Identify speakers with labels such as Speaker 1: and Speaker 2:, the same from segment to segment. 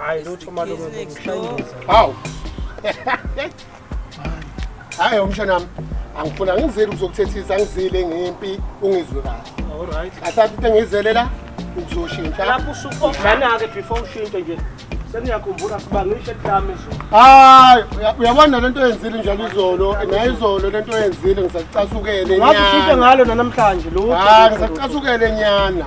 Speaker 1: Hayi lutho
Speaker 2: malume
Speaker 1: ngikuhlangisa. Haw. Hayi umshana wami angifuna ngizile ukuzokuthethisa ngizile ngempi ungizwe kahle. All right. Asathi into
Speaker 2: engizele la
Speaker 1: ukuzoshintsha. Lapho usuqophana
Speaker 2: ke before ushinte nje. Sengiyakhumbula sibangishe eklami izolo. Hayi uya-
Speaker 1: uyabona lento oyenzile njalo izolo naye izolo lento oyenzile ngisacasukele Ngathi ushinte nyana. ngalo
Speaker 2: nanamhlanje lutho. Hayi ngisacasukele
Speaker 1: nyana.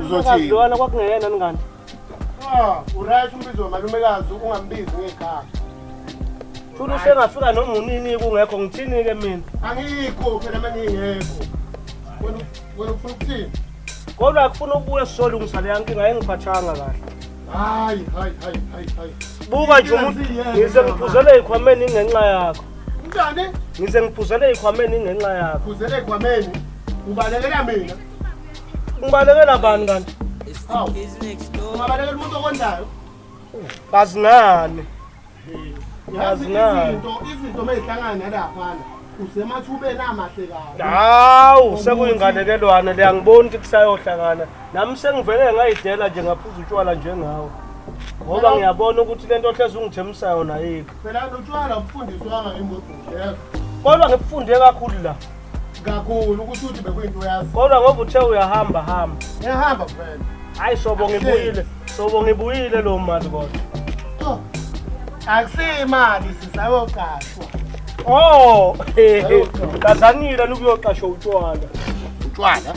Speaker 2: Uzothi lona kwakungeyena ngani? Ah,
Speaker 1: uright umbizo wamalumekazi ungambizi ngegama.
Speaker 2: Thula usengafika noma unini kungekho ngithini ke mina? Angikho phela
Speaker 1: mangingekho. Wena wena ufuna ukuthini? Kodwa akufuna
Speaker 2: ukubuya sizolungisa le nkinga engiphathanga kahle. Hayi, hayi,
Speaker 1: hayi, hayi,
Speaker 2: hayi. Buka nje umuntu ngize ngiphuzele ikhwameni ngenxa yakho. Njani?
Speaker 1: Ngize ngiphuzele
Speaker 2: ikhwameni ngenxa yakho. Phuzele ikhwameni.
Speaker 1: Ubalekela mina. Ngibalekela
Speaker 2: bani kanti? Hawu.
Speaker 1: Ungabalekela umuntu okondayo. Kazi
Speaker 2: ngani? Yazi
Speaker 1: izinto izinto mezihlangana laphana. Usemathubeni amahle kabi. Hawu,
Speaker 2: sekuyinganekelwana le angiboni ukuthi kusayohlangana. Nami sengivele ngayidela nje ngaphuza utshwala njengawe. Ngoba ngiyabona ukuthi lento ohlezi ungithembisa yona yikho. Phela lotshwala
Speaker 1: ubufundiswanga imbodlela. Kodwa ngibufunde
Speaker 2: kakhulu la. kakhulu
Speaker 1: ukuthi uthi bekuyinto uyazi kodwa ngoba uthe uyahamba
Speaker 2: hamba ngiyahamba vele
Speaker 1: hayi shobo
Speaker 2: ngibuyile shobo ngibuyile lo mali kodwa oh.
Speaker 1: akusiyimali sisayoqashwa
Speaker 2: oh kazanile lukuyoqashwa utshwala utshwala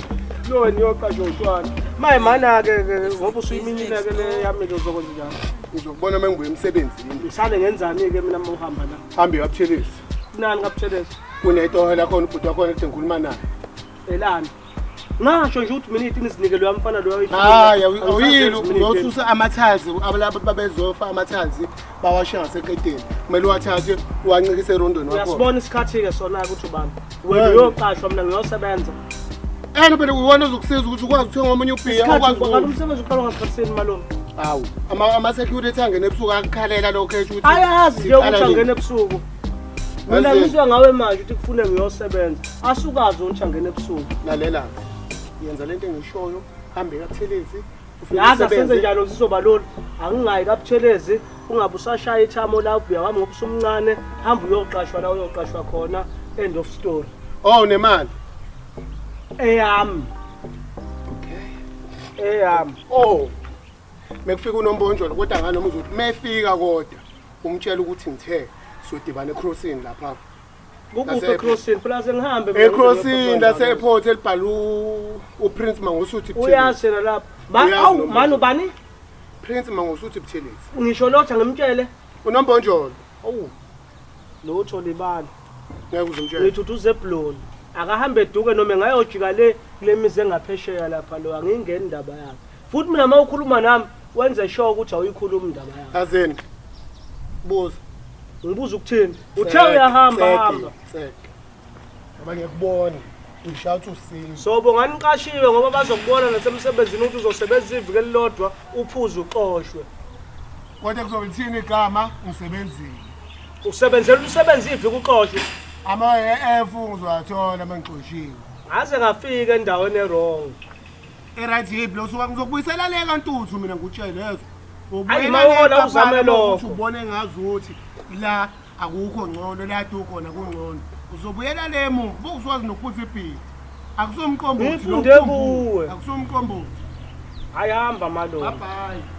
Speaker 1: lo wena
Speaker 2: uyoqashwa utshwala maye mana-ke ngoba usuyiminile-ke le yami-ke uzokwenza njalo ngizokubona uma ngibuye
Speaker 1: emsebenzini ngisale ngenzani-ke
Speaker 2: mina uma uhamba la hambe uyabuthelisa
Speaker 1: kunani kabuthelisa
Speaker 2: kunetoho lakhona
Speaker 1: ubhuti wakhona ethi ngikhuluma naye elani
Speaker 2: ngasho nje ukuthi mina itini sinike loya mfana loya hayi awuyile
Speaker 1: uyosusa amathazi abalabo babezofa amathazi bawashiya ngaseqedeni kumele uwathathe uwancikise erondweni wakho uyasibona isikhathi-ke sona-ke
Speaker 2: ukuthi ubani wena uyoqashwa mina ngiyosebenza ena phela
Speaker 1: uwona ozokusiza ukuthi ukwazi ukuthenga omunye ubhiya ukwazi umsebenzi
Speaker 2: uqalwa ngasikhathisini malona awu
Speaker 1: ama-security angene ebusuku akukhalela lokho esho ukuthi ayazi nje ukuthi angene
Speaker 2: ebusuku Mina ngizwa ngawe manje ukuthi kufune ngiyosebenza. Asukazi ontsha ngene ebusuku. Lalela.
Speaker 1: Yenza lento engishoyo, hambe kaThelezi. Yaza senze
Speaker 2: njalo sizoba lolu. Angingayi kaButhelezi, ungabe usashaya ithamo la ubuya wami ngobusumncane, hamba uyoqashwa la uyoqashwa khona. End of story. Oh nemali. Eyami. Okay.
Speaker 1: Eyami. Oh. mekufika unombonjolo kodwa nganoma uzothi mefika kodwa umtshela ukuthi ngithe sodibana ecrossini lapha kukuphi
Speaker 2: ecrossini plus ngihambe ecrossini lase
Speaker 1: airport elibhala uprince mangosuthi uyazi yena lapha
Speaker 2: awu mani ubani prince
Speaker 1: mangosuthi buthelezi ngisho lotha ngimtshele
Speaker 2: unombonjolo
Speaker 1: owu
Speaker 2: lotho libala ngeke uzomtshela
Speaker 1: ngithi uthi uzebloni
Speaker 2: akahambe eduke noma engayojika le kule mizi engaphesheya lapha lo angingeni indaba yakhe Futhi mina uma ukhuluma nami wenze sure ukuthi awuyikhulumi indaba yakho. Azeni.
Speaker 1: Buza. Ngibuza
Speaker 2: ukuthini? Uthe uyahamba hamba. Ngoba ngiyakubona. Ngishawa
Speaker 1: ukuthi usini. So bonga niqashiwe
Speaker 2: ngoba bazokubona nasemsebenzini ukuthi uzosebenzisa iviki elilodwa uphuze uxoshwe. Kodwa
Speaker 1: kuzolithini igama ngisebenzile. Usebenzela
Speaker 2: umsebenzi iviki uxoshwe. Ama-EF
Speaker 1: ngizowathola uma ngixoshiwe. Ngaze ngafika
Speaker 2: endaweni erong. Eright
Speaker 1: yiphi lo suka ngizokubuyisela le kantuthu mina ngikutshele yezo. Ayi, mawona
Speaker 2: uzame lokho. Ubone ngazi ukuthi
Speaker 1: la akukho ngcono la tu khona kungcono. Uzobuyela le mu bokuzwazi nokuphutha ibhili. Akusomqombo. Ngifunde kuwe.
Speaker 2: Akusomqombo.
Speaker 1: Ayihamba
Speaker 2: malo. Bye bye.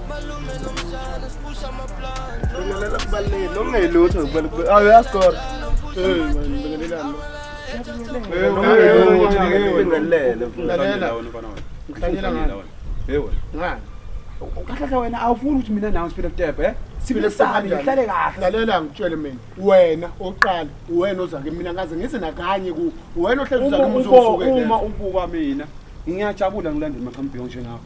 Speaker 3: ukhahlahla wena awufuni ukuthi mina nawe siphile kutebhe eh? siphilesane ngihlale kahle lalela ngitshele mina
Speaker 1: wena oqala wena oza ke mina ngaze ngise nakanye ku wena ohlezi uzakumusuzukela uma ubuka
Speaker 3: mina ngiyajabula ngilandela maqhambiyo njengakho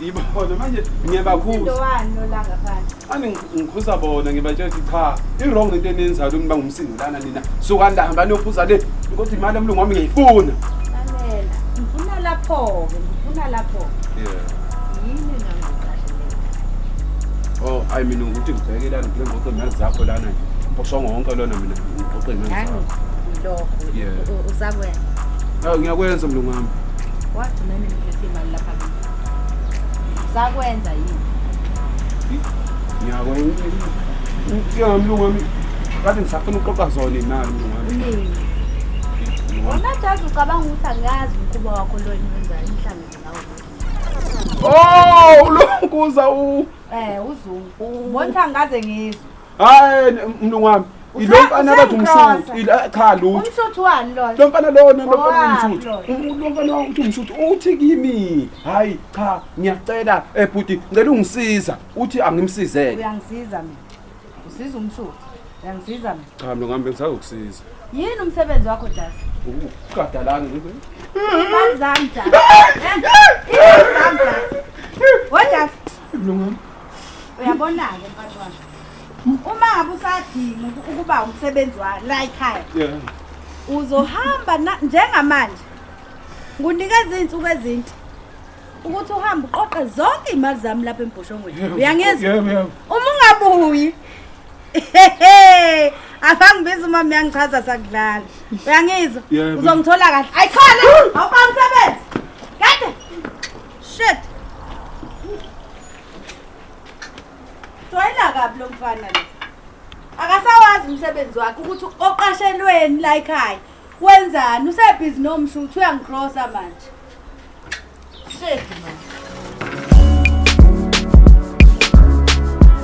Speaker 3: Yiba khona manje ngiyabakhuza. Indowani lolanga
Speaker 4: phansi. Ani ngikhuza
Speaker 3: bona ngibatshela ukuthi cha, i-wrong into eniyenzayo niba ngumsindo lana nina. Suka ndahamba niyophuza le. Kodwa imali yomlungu wami ngiyifuna. Amela. Ngifuna
Speaker 4: lapho ke, ngifuna lapho. Yeah. Yini ngangicasheleka?
Speaker 3: Oh, hayi mina ukuthi ngibheke lana ngile ngoqo imali zakho lana. Mposhongo wonke lona mina ngoqo imali Ngangi zakho. ngilokho. Yeah. U-
Speaker 4: Usakwenza. Hawu ngiyakwenza
Speaker 3: mlungu wami. Wagcina nini
Speaker 4: ngilethe imali lapha kimi? Sakwenza yini? Ngiyako
Speaker 3: inkinga mlungu wami kade ngisafuna ukuxoxa zona nalo mlungu wami. Mlungu.
Speaker 4: Wona jazi ucabanga ukuthi angazi umkhuba wakho lo enwenza inhlangano ngawo. Oh,
Speaker 3: ulonkuza u Eh
Speaker 4: uzungu. Mbona angaze ngizwe. hayi
Speaker 3: mlungu wami ilo mfana bathi umsuthu eh, cha lutho umsuthu wani lona lo
Speaker 4: mfana lona lo mfana
Speaker 3: umsuthu lo mfana uthi umsuthu uthi kimi hayi cha ngiyacela ebhuti eh, ngicela ungisiza uthi angimsizeke uyangisiza mina
Speaker 4: usiza umsuthu uyangisiza mina cha mlungu wami bengisazokusiza
Speaker 3: yini umsebenzi
Speaker 4: wakho dad uqadalana
Speaker 3: ngibe
Speaker 4: imali zami dad imali zami dad wodad mlungu wami
Speaker 3: uyabona-ke
Speaker 4: mfati wami uma ngabe usadinga uku- ukuba umsebenzi wa la ekhaya Yeah. uzohamba na- njengamanje ngunika izinsuku ezinti ukuthi uhambe uqoqe zonke iy'mali zami lapha embhoshongweni uyangizwa Yebo, yebo. uma ungabuyi afangibiza uma miyangichaza sakudlala uyangizwa Yebo. uzongithola kahle ayikhona awuba msebenzi kade Shit. Joyela kabi lo mfana lo. Akasawazi umsebenzi wakhe ukuthi oqashelweni la ekhaya. Wenzani? Usebhizi nomshu uthi uyangikrosa manje. Shit man.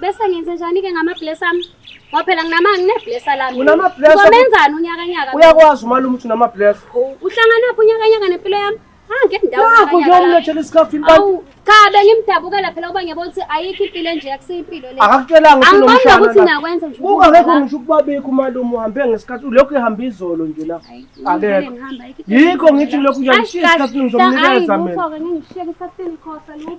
Speaker 2: Bese
Speaker 5: ngenze njani ke ngama bless ami? Ngoba phela nginamanga ngine bless lami. Unama bless. Ngomenzani
Speaker 2: unyaka
Speaker 5: nyaka? Uyakwazi umalume ukuthi
Speaker 2: unama bless. Uhlangana phi
Speaker 5: unyaka nyaka nempilo yami? Hange ah, ndawo. Nakho nje umlethele
Speaker 2: isikhafu impela. Awu cha
Speaker 5: bengimdabukela phela uba ngiyabo ukuthi ayikho impilo nje akusiyipilo le. Akakutshelanga ukuthi lo mshana. Angibona
Speaker 2: ukuthi nakwenza
Speaker 5: nje. Buka ngeke ngisho ukuba bikho
Speaker 2: umalume uhambe ngesikhathi lokho ehamba izolo nje la. Akekho. Yikho ngithi lokho nje ngishiya isikhathi ngizomnikeza mina. Hayi, ngifike ngishiyeke isikhathi
Speaker 5: ngikhosa lokho.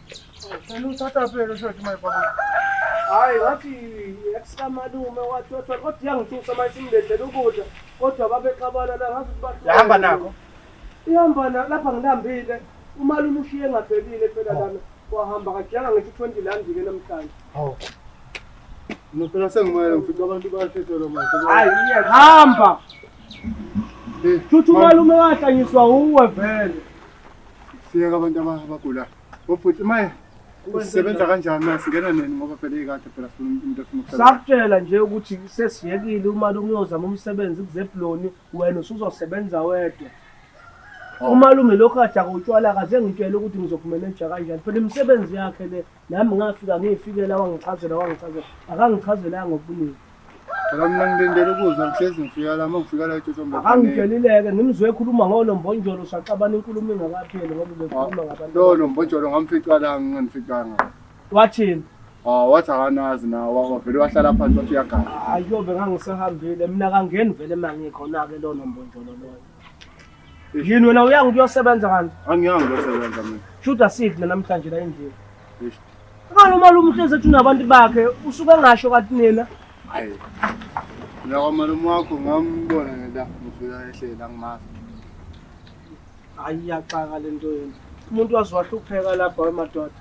Speaker 2: Ngicela
Speaker 1: uthatha phela usho ukuthi mayibona. Hayi
Speaker 2: ngathi ekusamalume wathi wathi kodwa iyangithusa manje imlethele ukudla kodwa babexabana la ngathi ukuthi Yahamba nako.
Speaker 1: Ihamba na
Speaker 2: lapha ngilambile. Umalume ushiye engavelile phela lana. Wahamba kajanga ngithi 20 landi ke namhlanje. Hawu.
Speaker 1: Ngicela sengimele ngifike abantu bayathetha lo manje. Hayi hamba.
Speaker 2: Futhi umalume wahlanyiswa uwe vele.
Speaker 1: siyeka abantu abagulayo obhuti maye sisebenza kanjani na singena nini ngoba phela ikade phela sifuna umuntu efuna ukusebenza sakutshela nje ukuthi
Speaker 2: sesiyekile umali umuyozama umsebenzi kuzebloni wena usuzosebenza wedwa umalume lokhu kade akutshwala kaze ngitshele ukuthi ngizokumeneja kanjani phela imisebenzi yakhe le Nami ngafika ngiyifikela wangichazela wangichazela akangichazelanga ngobuningi. Phela mina
Speaker 1: ngilindele ukuzwa ngihlezi ngifika la uma ngifika la eTshotshombe. Akangidelileke ngimzwe
Speaker 2: ekhuluma ngolo mbonjolo saxabana inkulumo ingakapheli ngoba ubekhuluma ngabantu. Lo lo mbonjolo ngamfica
Speaker 1: la nginganificanga. Wathini?
Speaker 2: Ah wathi
Speaker 1: akanazi na wavele wahlala phansi wathi uyagana. Ayobe ngangisahambile
Speaker 2: mina kangeni vele mangikho na ke lo nombonjolo loyo. Yini wena uyanga ukuyosebenza kanti? Angiyanga ukuyosebenza
Speaker 1: mina. Shuthi asidle namhlanje
Speaker 2: la endlini. Ngalo malume uhlezi ethi unabantu bakhe usuke engasho kathi nina. Hayi.
Speaker 1: Mina kwamalume wakho ngambona ngela ngifika ehlela ngimazi. Hayi
Speaker 2: iyaxaka le nto yenu. Umuntu wazi wahlupheka lapha wemadoda.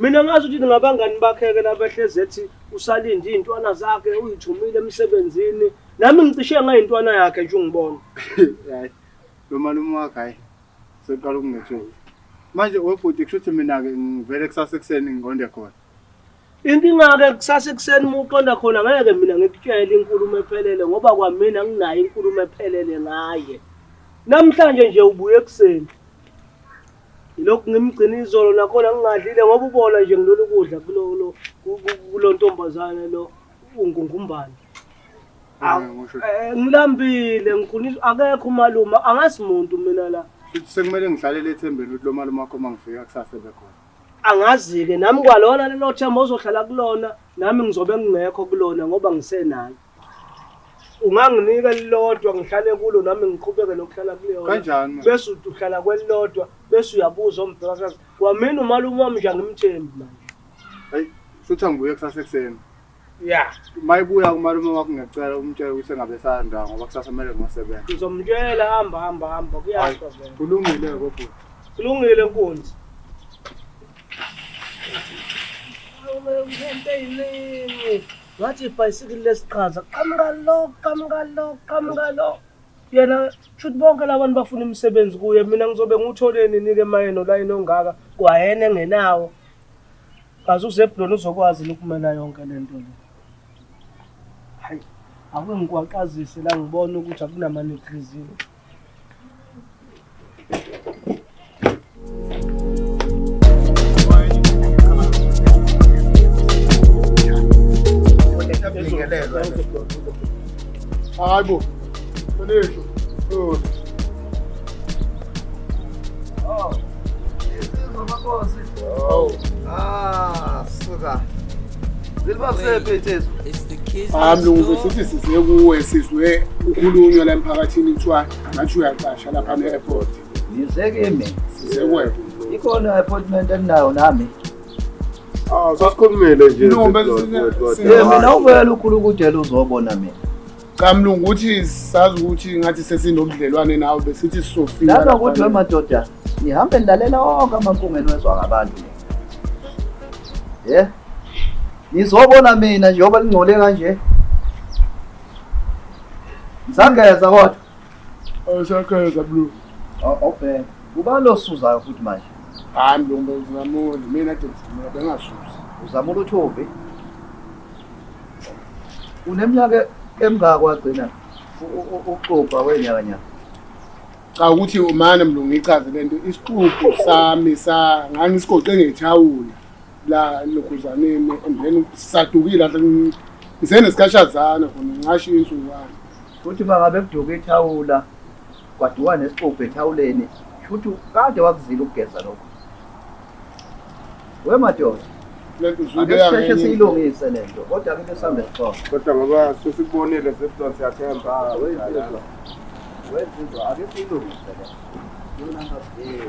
Speaker 2: Mina ngazi ukuthi ngabangani bakhe-ke labehlezi ethi usalinde iy'ntwana zakhe uyithumile emsebenzini Nami ngicishe ngayintwana yakhe nje ungibona. Hayi.
Speaker 1: Lo malume wakhe hayi. Seqala ukungethula. Manje webhuti kusho ukuthi mina ke ngivele kusasa ekuseni ngiqonde khona. Inkinga
Speaker 2: ke kusasa ekuseni uma uqonda khona ngeke mina ngikutshele inkulumo ephelele ngoba kwamina nginayo inkulumo ephelele ngaye. Namhlanje nje ubuye ekuseni. Lokhu ngimgcina izolo nakhona ngingadlile ngoba ubona nje ngilolu kudla kulo kulo ntombazane lo. ungungumbani eh, ngilambile ngikhulisa akekho umalume angazi muntu mina la sekumele ngihlalele
Speaker 1: ethembeni ukuthi lo malume wakho uma ngifika kusasa ebekhona angazi-ke
Speaker 2: nami kwalona lelo themba ozohlala kulona nami ngizobe ngingekho kulona ngoba ngisenayo unganginika elilodwa ngihlale kulo nami ngiqhubeke nokuhlala kuleyonkanjani bese
Speaker 1: uhlala
Speaker 2: kwelilodwa bese uyabuza ombhekakazi kwamina umalume wami nje angimthembi manje Hayi,
Speaker 1: shuthi angibuye kusasa ekuseni. Ya,
Speaker 2: Mayibuya
Speaker 1: umalume wakho ngiyacela umtshele ukuthi engabe esayandawo ngoba kusasa kumele ngosebenza. ngizomtshela hamba
Speaker 2: hamba hamba Hayi, kuyasho vele. kulungile kodwa.
Speaker 1: Kulungile
Speaker 2: nkunzi. Ngento eyiningi. Ngathi ibhayisikili lesiqhaza. Qhamuka lo, qhamuka lo, qhamuka lo. Yena shuthi bonke labantu bafuna imisebenzi kuye mina ngizobe ngiwuthole nini-ke mayeno layini ongaka kwayena engenawo Kaze uZebuloni uzokwazi yini ukumela yonke le nto le? Hayi, ake ngikwaqazise la ngibone ukuthi akunamanegrezini. Hayi bo, Sonisho,
Speaker 1: Sonisho.
Speaker 2: amlungu
Speaker 1: sithi size kuwe sizwe ukhulunywa la emphakathini kuthiwa ngathi uyaqasha lapha ne-airport ngizeke
Speaker 2: mina
Speaker 1: size kuwe ikhona appointment
Speaker 2: endinayo nami ah, sasikhulumile
Speaker 6: nje
Speaker 2: mina uvela ukhulu ukudela uzobona mina cha mlungu ukuthi
Speaker 1: sazi ukuthi ngathi sesinobudlelwane nawe besithi sisofika laba ukuthi wemadoda
Speaker 2: nihambe nilalela wonke amankungu enwezwa ngabantu ye nizobona mina njengoba lingcole kanje ngisageza kodwa awusageza
Speaker 1: mlungu awubheka
Speaker 2: ubani losuzayo futhi manje hayi mlungu
Speaker 1: ngizamuli mina de ngizamula bengasuzi uzamula uthombi
Speaker 2: Uneminyaka emngaka wagcina uxubha wenyakanyaka.
Speaker 1: Cha ukuthi umane mlungu ngichaze lento isixubho sami sa ngangisigoqe ngethawula la lokhuzaneni and then sadukile la ngisenesikashazana khona ngingasho insuku wami. Futhi bangabe
Speaker 2: kuduka ithawula Waduka nesixubhu ethawuleni. Shuthi kade wakuzila ukugeza lokho. We madoda. Lento Ake uzuyibeka
Speaker 1: sisheshe ngenye indlela.
Speaker 2: siyilungise lento. Kodwa ke besihamba esixhobo. Kodwa ngoba sesikubonile sesibona
Speaker 6: siyathemba. Ah, wenzizwa. Wenzizwa ake siyilungise lento. Yona ngabheki.